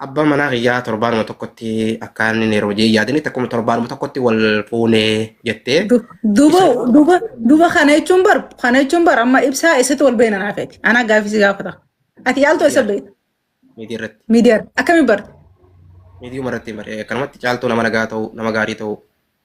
Abbaan manaa kiyyaa torbaanuma tokkotti akka inni yeroo hojii yaadanitti akkuma torbaanuma tokkotti wal fuunee jettee Du- Duba duba duba kana jechuun bar kana jechuun bar amma ibsaa eessatti wal beena naa feeti. Anaa gaaffii si gaafata. Ati yaaltu eessa beekta? miidiyaa irratti Miidiyaa akkamiin barte? miidiyuma irratti baree akkanumatti caaltuu nama nagaa ta'u nama gaarii ta'u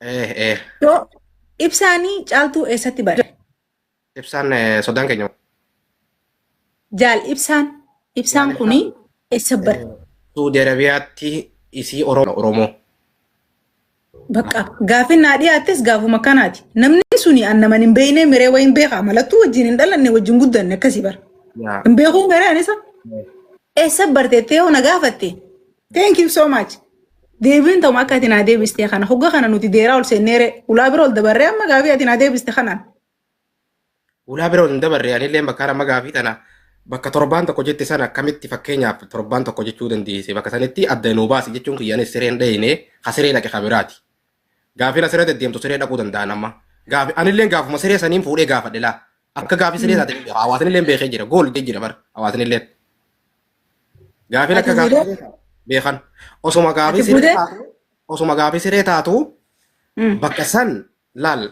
Eh, eh, Yoo ibsaanii caaltuu eessatti bare? ibsaan eh, sodaan keenya. Jaal ibsaan. Ibsaan Jaal kuni eessa bare? Suudi Arabiyaatti isii Oromo. Oromoo. Bakka gaafin naa dhiyaattes gaafuma kanaati. Namni suni an naman hin beekne miree wayin beekaa malattuu wajjin hin dhalanne wajjin guddanne akkasii bara. Yaa. Hin beekuun garee anisa. Eessa barteettee yoo na gaafatte Thank you so much. Deebiin ta'uma akka ati naa deebistee kana hogga kana nuti deeraa ol seenneere ulaa bira ol dabarree amma gaafii ati naa deebiste kanaan. Ulaa bira ol hin dabarre anillee bakka amma gaafii tana bakka torbaan tokko jette sana akkamitti fakkeenyaaf torbaan tokko jechuu dandeesse bakka sanitti adda nuu baasi jechuun kiyyaanis sireen dhayine ha siree dhaqe ha biraati. Gaafii na siree deddeemtu siree dhaquu danda'an amma. Gaafii anillee gaafuma siree saniin fuudhee gaafadhe laa. Akka gaafii siree taate hawaasnillee beekee jira gool jee jira bar hawaasnillee. Gaafiin akka Ati gaafii siree- beekan. Osuma gaafii Ati siree fuudhee? taatu osuma gaafii siree taatu Mm. bakka san laal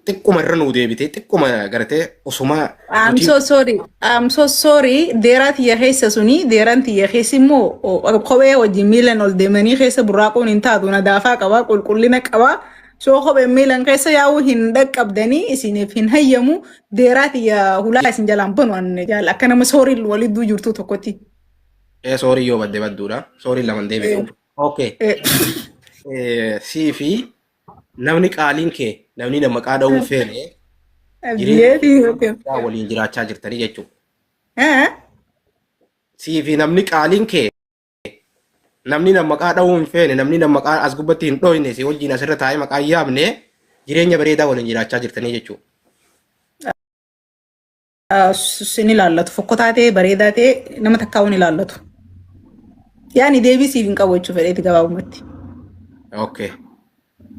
xiqquma irra nuu deebitee xiqquma gartee osuma I'm nuti so sorry. I'm so sorry. Deeraa tiyya keessa suni deeraan tiyya keessi immoo o- kophee wajjin miilan ol deemanii keessa burraaquun hin taatu. Nadaafaa qaba, qulqullina qaba. Soo kopheen miilan keessa yaa'uu hin dhaqqabdanii isiniif hin hayyamu deeraati yaa hulaa isin jalaan banu anne jaal akka nama sooriin walidduu jirtuu tokkotti. Ee soorii yoo badde badduudha. Sooriin laman deebi'u. Okay. Eh, Eh, Sii fi namni qaaliin kee namni nama maqaa dha'uun feene jireenya Abdiyeeti okay. guddaa waliin jiraachaa jirtanii jechuudha. Eh? Sii fi namni qaaliin kee namni na maqaa dha'uu hin feene namni na maqaa as gubbatti hin dhooyne si wajjin asirra taa'ee maqaa hin yaamne jireenya bareedaa waliin jiraachaa jirtanii jechuudha. Sin ilaallatu fokkotaa ta'e bareedaa ta'e nama takkaa hin ilaallatu. Yaani deebii siif hin qabu jechuudha fedheeti gabaabumatti. Okay.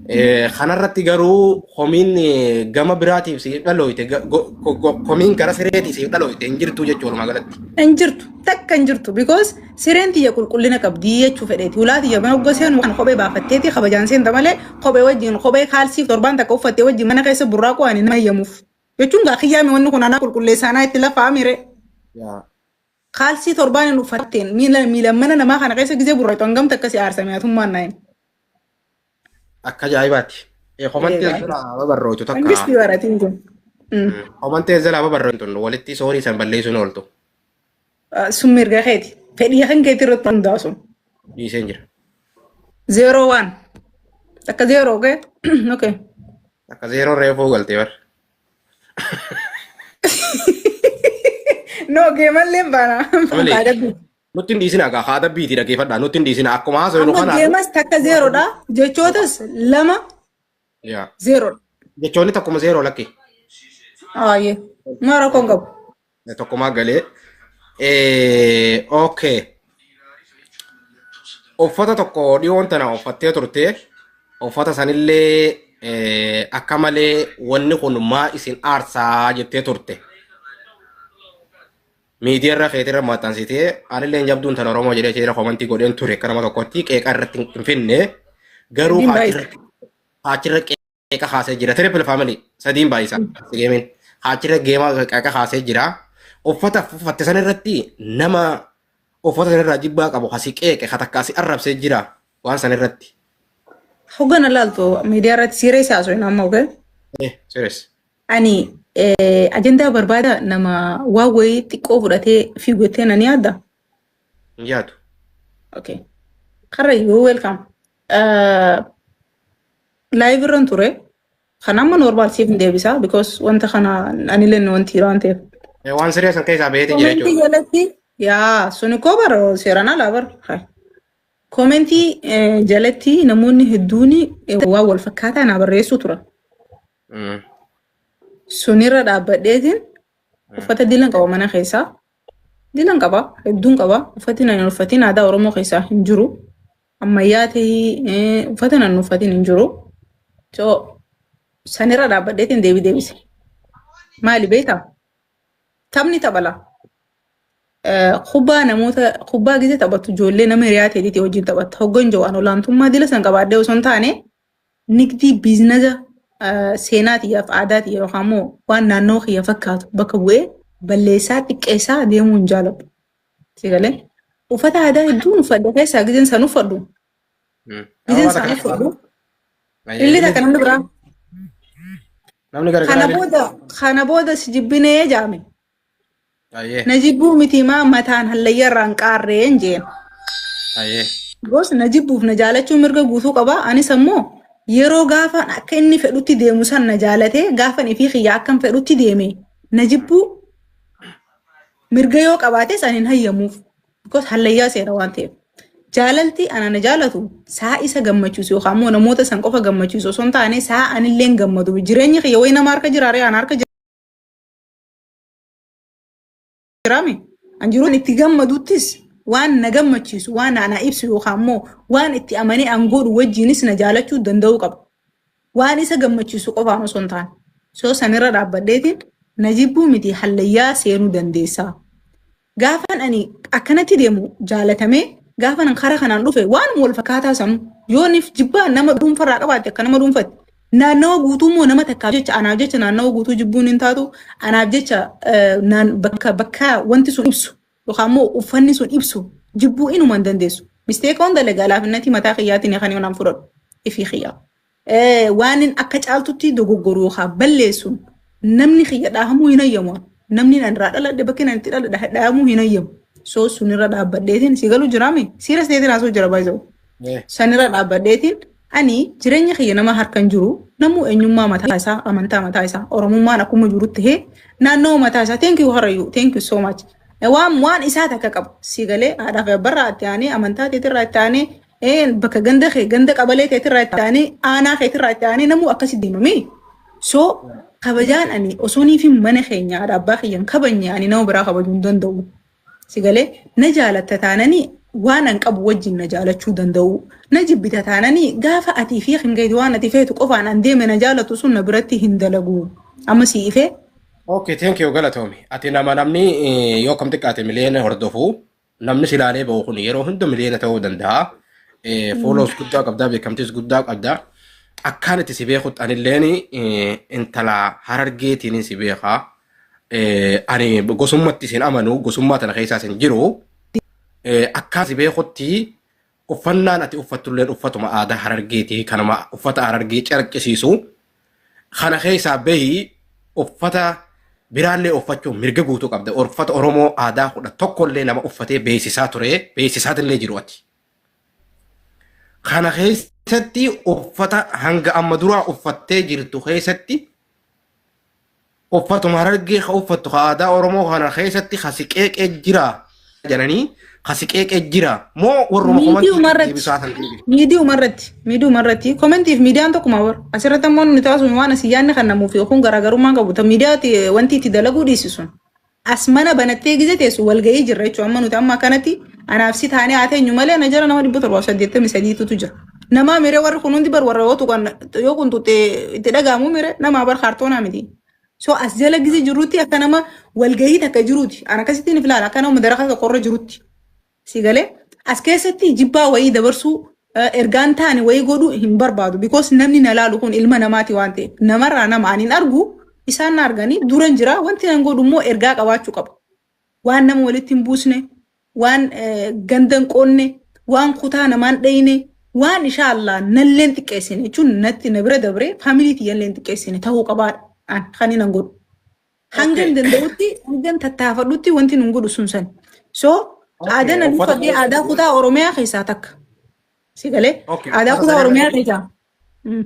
Eh, Kanarratti garuu komiin eh, gama biraatiif siif dhalooyte ga- go- ko- ko- komiin gara sireetii siif dhalooyte hin jirtu jechuu walumaa galatti. Hin jirtu. Takka hin jirtu. Because sireen tiyya qulqullina qabdi jechuu fedheeti. Hulaa tiyya mana oggoo seenu kan kophee baafatteeti kabajaan seenta malee kophee wajjin kophee kaalsiif torbaan takka uffattee wajjin mana keessa burraaquu ani nama eeyyamuuf. Jechuun gaa kiyyaami wanni kun anaa qulqulleessaanaa itti lafaamire. Yaa. Kaalsii torbaan hin uffatteen miila miila mana namaa kana keessa gizee burrayxu hangamta akkasi aarsame atummaan naayim. Akka ajaa'ibaati. Eh, Komantii Eegaa. jalaa babarrootu takka. Mangistii baratiin kun. Mm. Komantii jalaa babarrootu tun walitti soorii san balleessuun ooltu. Ah, Sun mirga keeti. Fedhii kan keetii irratti hundaa'u sun. Dhiiseen jira. Zeeroo waan. Akka zeeroo ga'e. Okay. Akka zeeroo reefuu galtee bar. No geemallee hin baana. Malee. Kaa dabbii. Nutti hin dhiisin hagaa haa dabbiiti dhaggeeffadhaa nutti hin dhiisin akkuma haasawee nu Amma kanaan. geemas takka zeeroodha. Jechootas lama Yaa. zeeroodha. Jechoonni tokkuma zeeroo lakki. Aayee. Maa rakkoon qabu. Tokkomaa galee. Eh, okay. Uffata tokko dhiyoon tana uffattee turte. Uffata sanillee eh, akka malee wanni kun maa isin aarsaa jettee turte. Miidiyaarra keetirra maxxansitee anillee hin jabduun tan Oromoo jedhee jira komantii godheen ture akka nama tokkotti qeeqa irratti hin finne garuu Dinbaa isa. achirra achirra qeeqa kaasee jira. Triple family sadiin baay'isaa geemiin haachirra geema qeeqa kaasee jira. Uffata uffatte san irratti nama uffata san irraa jibbaa qabu kasi qeeqe ka takka asi arrabsee jira waan san irratti. Hoggana laaltu miidiyaa irratti siiree siyaasoo hin amma oge. Eh, serious. Ani eh, ajandaa barbaada nama waa wayii xiqqoo fudhatee fiigu jettee nan yaadda. Hin yaadu. Okay. Karrayyuu welcome. Live irran ture. Kan amma normal siif hin deebisa because wanta kana anillee nu wanti waan ta'eef. Eh, Waan siree san keessaa baheeti jira Komentii jechuudha. jalatti yaa suni koo bara seeraan alaa bara. Hai. Komentii eh, jalatti namoonni hedduun eh, waan wal fakkaataa naa barreessuu turan. Mm. Sunirra dhaabbadheetiin uffata dilan qaba mana keessaa. Dilan qaba hedduun qaba uffati nan uffatiin aadaa Oromoo keessaa hin jiru. ammayyaa tahii eh, uffata nan uffatin hin jiru so sanirra dhaabbadheetiin deebii deebise maali beektaa taphni taphala Eh, kubbaa namoota kubbaa gisee taphattu ijoollee nama hiriyaa teetiiti wajjin taphatta hoggan jawaan olaantummaa dila san qabaadhee osoo hin taane nigdii biiznaza eh, seenaa tiyyaaf aadaa tiyya yookaan immoo waan naannoo kiyya fakkaatu bakka bu'ee balleessaa xiqqeessaa deemuu hin jaaladhu Si galee? Uffata aadaa hedduun uffadha keessaa gizeen isaan uffadhu. Mm. Gizeen Amma isaan takka uffadhu. Ayyee, Illee takka namni biraa. Namni Kana garagaraa beeku. booda kana booda si jibbinee jaame. Ayyee, Na jibbuu miti maa mataan hallayyaa irraa hin qaarreen jeen. ayyee. Goos na jibbuuf na jaalachuun mirga guutuu qaba. Anis ammoo yeroo gaafan akka inni fedhutti deemu san na jaalatee gaafan ifii kiyya akkan fedhutti deeme na jibbuu Mirga yoo qabaates ani hin hayyamuuf. Because hallayyaa seera waan ta'eef. Jaalalti ana na jaalatu saa isa gammachiisu yookaan immoo namoota san qofa gammachiisu osoo hin taane saa anillee hin gammadu. Jireenyi kiyya wayi nama harka jira ree ana harka jiraame. An jiru an itti gammaduttis waan na gammachiisu waan ana ibsu yookaan immoo waan itti amanee an godhu wajjinis na jaalachuu danda'uu qaba. waan isa gammachiisu qofaan osoo hin taane soo sanirra dhaabbadheetiin na jibbuu miti hallayyaa seenuu dandeessaa. Gaafan ani akkanatti deemu jaalatamee gaafan an karaa kanaan dhufe waanuma wal fakkaataa sanuu yoonif jibbaa nama dhuunfarraa qabaatte akka nama dhuunfatti naannawa guutuu immoo nama takkaaf jecha anaaf jecha naannawa guutuu jibbuun hin taatu anaaf jecha eh, naan- bakka bakka wanti sun ibsu yookaan immoo uffanni sun ibsu jibbuu inuma hin dandeessu. Misteeka hunda lagaa laafinnatii mataa kiyyaatiin kan yoonaan fudhadhu ifii kiyyaa. Waan inni akka caaltutti dogoggoru yookaan balleessuun namni kiyya dhaahamuu hin hayyamu. Namni nan irraa dhaladhe bakki nan itti dhaladhe dhaahamuu hin hayyamu. So sunirra dhaabbadheetiin si galu jiraame siira seetiin haasoo jira baay'ee. Eh. Sanirra dhaabbadeetiin ani jireenya kiyya nama harka hin jiru namuu eenyummaa mataa isaa amantaa mataa isaa oromummaan akkuma jiru ta'ee naannoo mataa isaa thank you harayu thank you so much Eh, waan waan isaa takka qabu si galee haadhaa fi abbarraa itti aanee amantaa teetirraa itti aanee eh, bakka ganda kee ganda qabalee teetirraa itti aanee aanaa keetirraa itti aanee namuu akkasi deemamee so kabajaan ani osoo niifin mana keenya haadha abbaa kiyyan kabanye ani nama biraa kabajuu hin danda'u Si galee na jaalatta taananii waan an qabu wajjin na jaalachuu danda'uu. Na jibbita taananii gaafa atii fi kan keeti waan ati feetu qofaan an deeme na jaalatu sun na biratti hin dalagu. Amma si ifee Okay, thank you galatoomi. Ati nama namni eh, yoo kam xiqqaate miliyoona hordofu namni silaalee ba'u kun yeroo hunda miliyoona ta'uu danda'a. Eh, Followers guddaa qabdaa beekamtiis guddaa qabdaa. Akkaan itti si beekutti anilleen eh, intala harargeetiin si beekaa. Eh, Ani gosummatti isin amanu gosummaa tana keessaa isin jiru eh, akkaa si beekutti uffannaan ati uffattulleen uffatuma aadaa harargeeti kanuma uffata harargee carqisiisu kana keessaa bahi uffata biraallee uffachuun mirga guutuu qabda uffata oromoo aadaa kudha tokkollee nama uffatee beeksisaa ture beeksisaatillee jiru ati. Kana keessatti uffata hanga amma duraa uffattee jirtu keessatti Uffatuma harargee ka uffattu ka aadaa Oromoo kana keessatti ka si qeeqee jira jedhanii ka si qeeqee jira moo warruma Miidiyuma komantii irratti. deebisaa san deebisu. Miidiyuma irratti. Miidiyuma irratti. Komentiif miidiyaan tokkuma bar. Asirratti ammoo nuti taasisuun waan asii yaadni kan namuuf yookuun garaagarummaan qabu. Ta miidiyaati wanti itti dalaguu dhiisisun. As mana banattee gize teessu walga'ii jirra jechuudha. Amma nuti amma akkanatti anaaf si taanee haa teenyu malee ana jala nama dhibba torbaaf saddeettamii sadiitutu jira. Namaa miree warri kun hundi bar warra yoo tuqan yoo kun tuqxee itti dhaga'amu miree namaa bar kaartoonaa miti. So as jala gize jirrutti akka nama walga'ii takka jiruuti. Ana akkasittiin filaala akka nama madaraka tokkorra jirutti. Si galee as keessatti jibbaa wayii dabarsuu eh, ergaan taane wayii godhuu hin barbaadu. Because namni na laalu kun ilma namaati waan ta'eef namarraa nama ani hin argu isaan na arganii duran jira wanti nan godhu immoo ergaa qabaachuu qaba. Waan nama walitti hin buusne, waan eh, ganda hin qoonne, waan kutaa namaa hin dheyne, waan ishaallah nallee hin xiqqeessine jechuun natti na bira dabree faamilii tiyyallee hin xiqqeessine ta'uu qabaadha. An kan hin godhu. Hangan Okay. danda'utti hangan tattaafadhutti wanti nun godhu sun san. So Okay, aadaan uffata- aduuffadhee aadaa kutaa Oromiyaa keessaa takka. Si galee? Okay, Aadaa uffata kutaa sana Oromiyaa irratti- keessaa. Mm.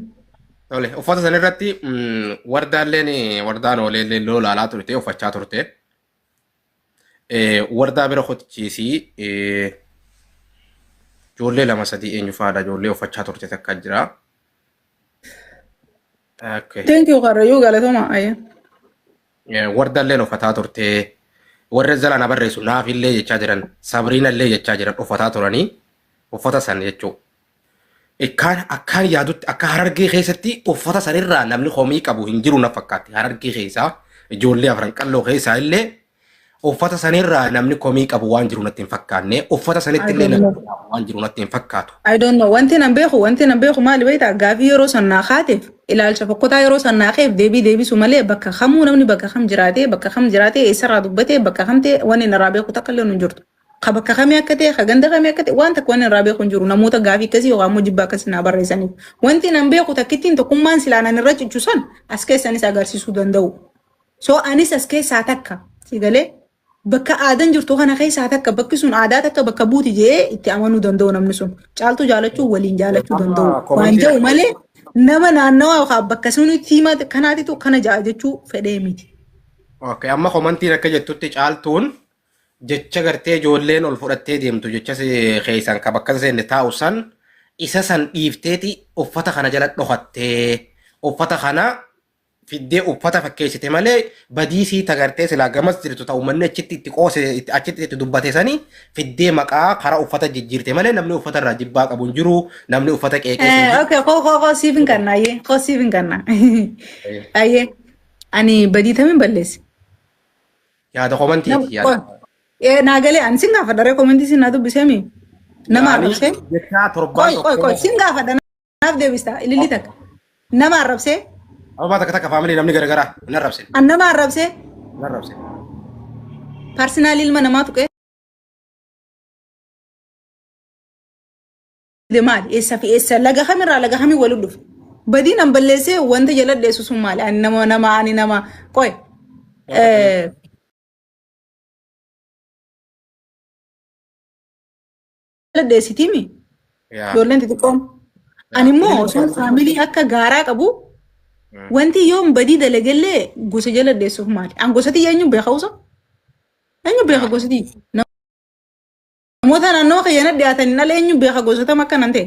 Tole, uffata sana irratti mm, wardaalleen wardaan ooleellee loo laalaa turte uffachaa turte. Wardaa bira kotichiisii ijoollee lama sadii eenyu faadha ijoollee uffachaa turte takka jira. Okay. Thank you Karrayyuu galatoma ayya. Wardalleen uffataa turte warra zalaana barreessu naafillee jechaa jiran sabriinallee jechaa jiran uffataa turanii uffata san jechuu Ikkaan akkaan yaadutti akka harargee keessatti uffata sanirraa namni komii qabu hin jiru na fakkaatti harargee keessaa ijoollee afran qalloo keessaa illee uffata sanirraa namni komii qabu waan jiru natti hin fakkaanne uffata sanitti illee namni komii qabu waan jiru natti hin fakkaatu. I don't know. Wanti nan beeku, wanti nan beeku maali beektaa? Gaafii yeroo san naa kaateef, ilaalcha fokkotaa yeroo san naa keef deebii deebisu malee bakka kamuu namni bakka kam jiraatee, bakka kam jiraatee, eessarraa dubbatee, bakka kam ta'e wanni narraa beeku takka illee hin jirtu. ka bakka kamii akka ta'e, ka ganda kamii akka ta'e waan takka waan irraa beeku hin jiru. Namoota gaafii akkasii yookaan immoo jibba akkasii naa barreessaniif. Wanti nan beeku takkittiin tokkummaan silaa nan irra cichu san as keessanis agarsiisuu danda'u. So anis as keessaa takka si galee bakka aadan jirtu kana keessaa takka bakki sun aadaa takka bakka buuti jedhee itti amanuu danda'u namni sun. Caaltuu jaalachuu waliin jaalachuu Amma danda'u. Waan komantii jedhu malee nama naannawaa yookaan bakka sunitti hima kanaatitu kana ja'a jechuu fedhee miti. Okay, amma komantiin akka jettutti caaltuun jecha gartee ijoolleen ol fudhattee deemtu jecha si keessaan ka bakka hin seenne taa'u san isa san dhiifteeti uffata kana jala dhokattee uffata kana fiddee uffata fakkeessite malee badii sii tagartee silaa gamas jirtu ta'u manni achitti itti qoose itti- achitti itti dubbate sani fiddee maqaa karaa uffata jijjiirte malee namni uffata irraa jibbaa qabu hin jiru namni uffata qeeqee hin Eh, jiru. okay, koo koo koo siif hin kanna ayyee koo siif hin kanna ayyee ani badii tamiin balleesse Yaada komantiiti yaada. Naa galee ani sin gaafadha ree komantii sin naa dubbisee mi? Nama Yaanii arrabsee? jechaa torbaan Qoy qoy qoy sin gaafadha naaf deebista ililli takka. Nama arrabsee? Ababaa takka takka faamilii namni garagaraa hin arrabsine. An nama arrabsee? Hin arrabsine. Parsinaalii ilma namaa tuqee? maal eessa fi eessa laga kamirraa laga kamii waliin dhufe badiin an balleessee wanta jaladheessu sun maali ani nama nama ani nama qoy jaladheessitiimi ijoolleen xixiqqoon ani immoo osoo faamilii akka gaaraa qabu wanti yoon badii dalagellee gosa jaladheessuuf maali an gosatii eenyu beekausa eenyu beeka gosatii Namoota naannawa kiyya na dhiyaataniin ala eenyu beeka gosa tam akka nan ta'e.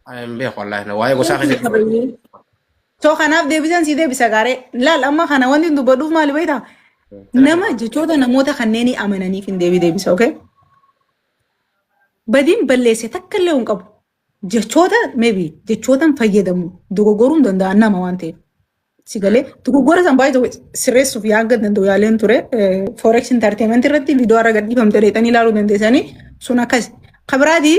Ani hin beeku wallaahi na waa'ee gosaa keessa jiru. Soo kanaaf deebisaan sii deebisa gaaree. Laal amma kana wanti hin dubbadhuuf maali beektaa? Nama jechoota namoota kanneenii amananiif hin deebii deebisa, okay? Badiin balleesse takka illee hin qabu. jechoota maybe jechootan fayyadamu dogoggoruun danda'a nama waan ta'eef. Si galee dogoggora san baay'ee tokko sirreessuuf yaanga danda'u yaaleen ture. Forex entertainment irratti viidiyoo har'a gadhiifamte deetanii ilaaluu dandeessanii sun akkas. Kabiraati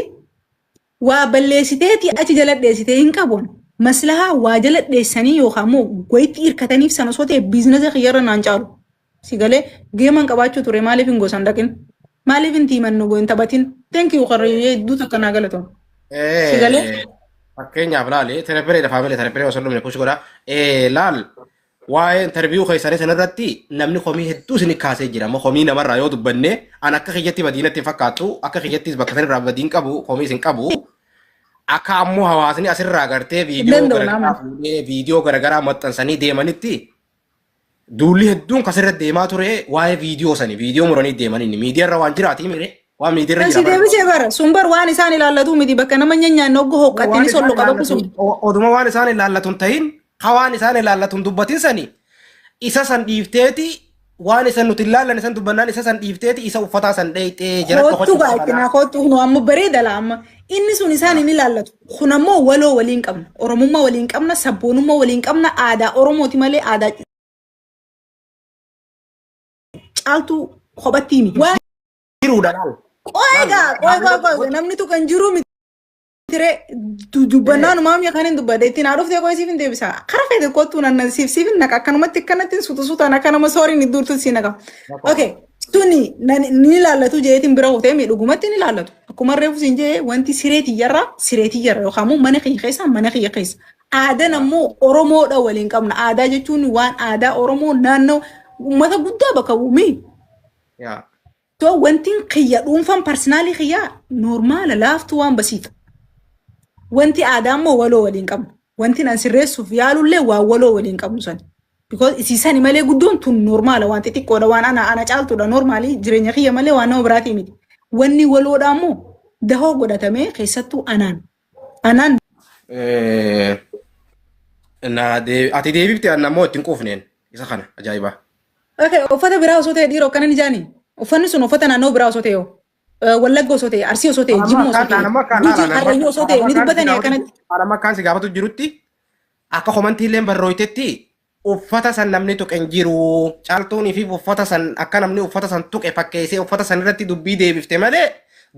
waa balleessiteeti achi jala dheessitee hin qabuun maslahaa waa jala dheessanii yookaan immoo wayitti hirkataniif sana osoo ta'e biizinasa kiyyarra naan caalu. si galee geeman qabaachuu ture maaliif hin gosan dhaqin maaliif hin tiiman nu hin taphatin thank you qarrayyuu hedduu takka naa galatoom si galee Fakkeenyaaf laali terepereedha faamilee tereperee osoo dhumne kuusi godha. Laal waa'ee interviyuu keessanii sanarratti namni komii hedduu isin kaasee jira. Amma komii namarraa yoo dubbanne an akka kiyyatti badiinatti hin fakkaatu akka kiyyattis bakka sanarraa badiin qabu komii isin qabu. Akka ammoo hawaasni asirraa gartee viidiyoo Illeen doonaa garaagaraa fuudhee viidiyoo garaagaraa maxxansanii deemanitti Duulli hedduun kasirra deemaa ture waa'ee viidiyoo sani viidiyoo muranii deeman inni miidiyaarra waan jiraatii mire waan miidiyaarra Kan si jira bara. deebisee bara sun bar waan isaan ilaallatu miti bakka nama nyaanyaanne oggu hoqqattini sollo qabaku sun. Oduma waan isaan ilaallatu hin ta'in ka waan isaan ilaallatu hin dubbatin sani isa san dhiifteeti waan isan nuti ilaallan isan dubbannaan isa san dhiifteeti isa uffataa san dheeyxee jala Koottu gaa'etti naa koottu nu amma bareeda laa amma inni sun isaan hin ilaallatu. Kun ammoo waloo waliin qabna. Oromummaa waliin qabna, sabboonummaa waliin qabna, aadaa Oromooti malee aadaa caaltuu kophattii miti. Waan jiruudha laal. qo'ee Laal, gaa, qo'ee laal, qo'ee qo'ee namni tokko hin jiru miti. Tiree dubbannaan maamii kan hin dubbadde ittiin haa dhuftee qo'ee siif hin deebisa. Kara feete kottuu nan siif siif hin naqa akkanumatti akkanatti suuta suutaan akka nama sooriin iddoo urtuutti si naqa. Okay. Tuni nani- ni ilaallatu jeetiin bira kutee mii dhugumatti ni ilaallatu. Akkuma reefu siin jee wanti siree tiyyarraa siree tiyyarra yookaan immoo mana kiyya keessa mana kiyya keessa. Aadan ammoo Oromoodha waliin qabna. Aadaa jechuun waan aadaa Oromoo naannoo uummata guddaa bakka bu'u mii. Yaa. So wanti kiyya dhuunfaan parsinaalii kiyyaa normaala laaftuu waan basiidha. Wanti aadaa immoo waloo waliin qabnu. Wanti an sirreessuuf yaalullee waan waloo waliin qabnu sani. Because isiisani malee guddoon tun normaala waan xixiqqoodha waan ana ana caaltuudha normaalii jireenya kiyya malee waan nama biraatii miti. Wanni waloodhaa immoo dahoo godhatamee keessattuu anaan anaan Eh, na dee- ati deebifte anna immoo ittiin quufneen isa kana ajaa'ibaa. Okay, uffata biraa osoo ta'e dhiira akkana ni jaani. Uffanni sun uffata naannoo biraa osoo ta'e yoo. Wallagga osoo ta'e, Arsii osoo ta'e, Jimma osoo ta'e, Gujiin Karrayyuu osoo ta'e, ni dubbatanii akkanatti. Anamma akkaan si gaafatu jirutti Akka komantiilleen barrooytetti uffata san namni tuqe hin jiru. Caaltuuniif uffata san akka namni uffata san tuqe fakkeessee uffata san irratti dubbii deebifte malee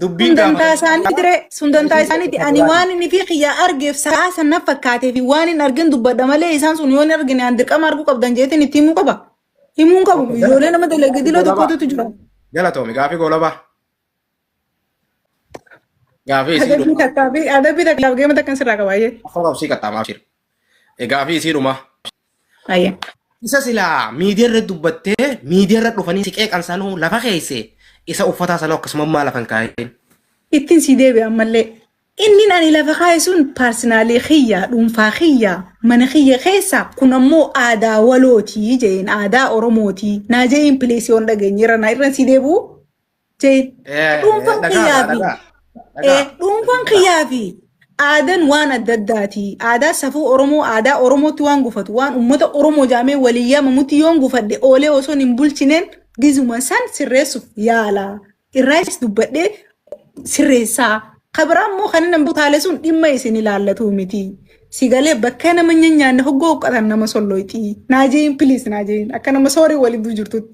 dubbiin Sun dantaa gaafatan isaaniiti re. Sun dantaa isaaniiti. Ani waan inni fi kiyyaa argeef sa'aa san na fakkaatee fi waan hin argin dubbadha malee isaan sun yoo hin argine an dirqama arguu qabdan jeetiin itti himuu qaba. Himuu hin qabu. Ijoollee nama dalagee diloo tokkotu jira. Galatoomi gaafii goolabaa. Gaafii isii Adabbii dhuma. takkaa fi adabbii takka laaf geema takkan sirraa qaba ayyee. Afaan obsii qaxxaamaa abshir. Gaafii isii dhuma. Ayyee. Isa silaa miidiyaarra dubbattee miidiyaarra dhufanii si qeeqan sanuu lafa keesse isa uffataa sanuu akkasuma maa lafa hin kaa'in. Ittiin sii deebi'e ammallee. Inni ani lafa kaa'e sun paarsinaalii kiyya dhuunfaa kiyya mana kiyya keessa kun ammoo aadaa walootii jeen aadaa oromootii naa jeeyin pileesii on dhageenyeera naa irra sii deebi'u. Jeen. Eh, Dhuunfaan dhagaa, kiyyaa fi dhagaa, eh, dhagaa. dhuunfaan kiyyaa fi aadaan waan adda addaati. Aadaa safuu Oromoo, aadaa Oromootti waan gufatu, waan uummata Oromoo jaamee walii yaamamutti yoon gufadhe oolee osoo hin bulchineen gizuma san sirreessuuf yaala. Irraayis dubbadhee sirreessaa. Kabiraa immoo kan inni butaalee sun dhimma isin ilaallatu miti. Sigalee bakka nama nyaanna hoggoo uqqatan nama sollooyti. Naajeeyin piliis naajeeyin akka nama soorii waliduu jirtutti.